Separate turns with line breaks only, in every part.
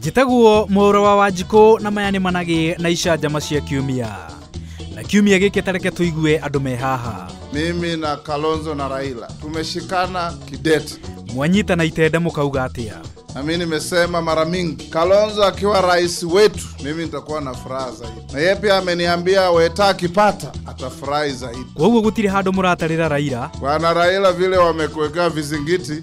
njĩtagwo mũra wa wanjikũ na maya nĩ managĩ na icanjama cia kiumia na kiumia gĩkĩ tareke tũigue andũ me haha Mimi na
Kalonzo na Raila tumeshikana kidete, mwanyita na
itenda mũkauga atĩa na mimi nimesema
mara mingi, Kalonzo akiwa rais wetu, mimi nitakuwa na furaha zaidi, na yeye pia ameniambia Weta akipata atafurahi zaidi. koguo gũtirĩ handũ
mũratarĩra raira Bwana Raila, vile
wamekuwekea vizingiti,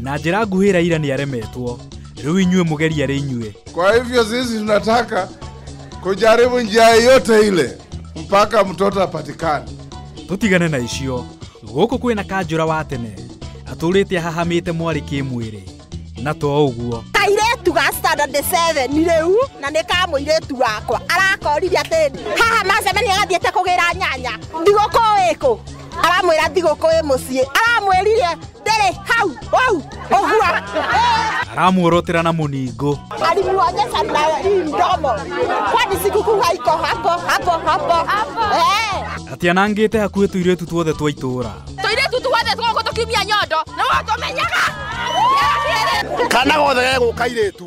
na njĩra nguhĩ
raira nĩ aremetwo rĩu inyuĩ mũgeria rĩ inyuĩ Kwa hivyo sisi
tunataka kujaribu njia yote ile mpaka mtoto apatikane. tũtigane na
icio gũkũ kwĩ na kanjũra wa tene atũrĩte ahahamĩte mwarĩ kĩmwĩrĩ na to ũguo kairetu ga standard
7 rĩu na nĩ ka mũirĩtu wakwa arakorire atĩrĩ haha macemania gathiĩte kũgĩra nyanya thigũkũ ĩkũ aramwĩra thigũkũ ĩ mũciĩ aramwĩrire ndĩrĩ hau hau ũguo
aramuorotera na mũningo alimuonyesha
na hii mdomo kwani sikukuu haiko hapo hapo hapo Eh.
ati anangĩte hakuhĩ tũirĩtu tuothe twa itũũra tũirĩtu tuothe
tũgũkũ tũkiumia nyondo nĩ watũmenyaga
kana gothe gegũka irĩtu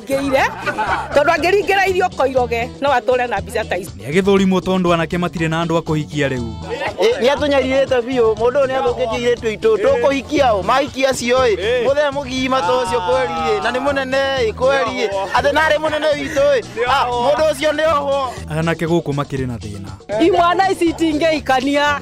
Ngĩire tondũ angĩringĩra irio koiroge no atũre na mbica ta ici. Nĩ agĩthũrimwo tondũ anake
matirĩ na andũ a kũhikia rĩu. Nĩ atũnyarirĩte
biũ mũndũ ũyũ nĩ athũkĩtie irĩtu itũ tũkũhikia ũ mahikia acio ĩ mũthee mũgima ta ũcio kweri ĩ na nĩ mũnene ĩ kweri ĩ atĩ narĩ mũnene witũ ĩ Ah, mũndũ ũcio nĩ ohwo Anake gũkũ makĩrĩ
na thĩna. Imwana ici
itingĩikania.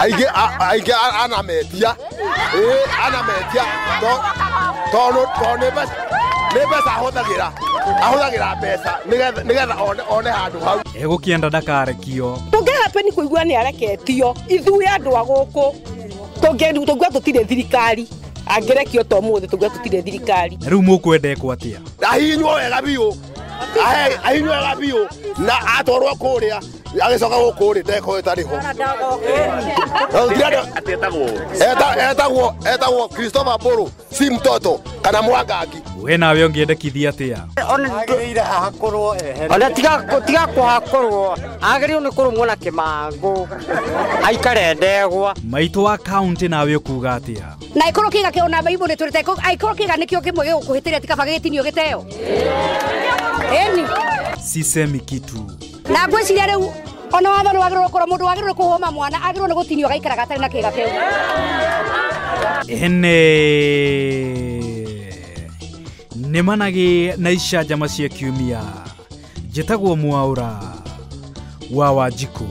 aingĩ a- aingĩ a- ana mendia Ĩ, ana mendia To- tondũ tondũ nĩ mbeca nĩ mbeca ahũthagĩra ahũthagĩra mbeca nĩgetha nĩgetha one- one handũ hau egũkĩenda ndakarekio
tũngĩhapeni kũigua
nĩ areketio ithuĩ andũ a gũkũ tũngĩigua tũtirĩ thirikari angĩrekio to mũthĩ tũngĩigua tũtirĩ thirikari na rĩu mũkwendekwo
atĩa ahinywo wega
biũ Ahe- ahinywo wega biũ na atwarwo kũrĩa agĩcoka gũkũ rĩ ndeko ĩtarĩ ho etagwo etagwo Christopher Mbũrũ si mtoto kana mwangangi we nawe ũngĩendekithia
atĩa
ona tiga tiga kuhakorwo agĩrĩirwo nĩ kũrũmwo na kĩmangũ aikare ndegwa maitũ wa kaunti
nawe ũkuga atĩa na ĩkorwo kĩga kĩ ona
baibũ nĩ tũrĩte ĩkorwo kĩga nĩkĩo kĩmwe gĩgũkũhĩtĩria tikaba gĩgĩtinio gĩteo ĩni
sisemi
kitu na ngwĩciria rĩu ona watho nĩ wagĩrĩirwo korwo mũndũ wagĩrĩirwo kũhũma mwana agĩrĩirwo nĩ gũtinio agaikaraga atarĩ na kĩga kĩu ene
nĩ managĩ na icanjama cia kiumia njĩtagwo mwaũra wa wanjikũ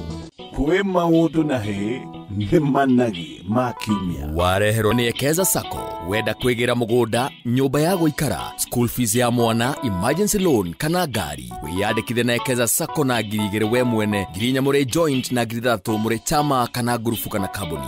kwĩ
maũndũ na hĩ nĩ managi ma kiumia wareherwo nĩ ekeza
sacco wenda kwĩgĩra mũgũnda nyũmba ya gũikara school fees ya mwana emergency loan kana ngari wĩyandĩkithe na ekeza sacco na ngiri igĩrĩ we mwene ngiri inya mũrĩ joint na ngiri ithathatũ mũrĩ chama kana ngurubu kana kambuni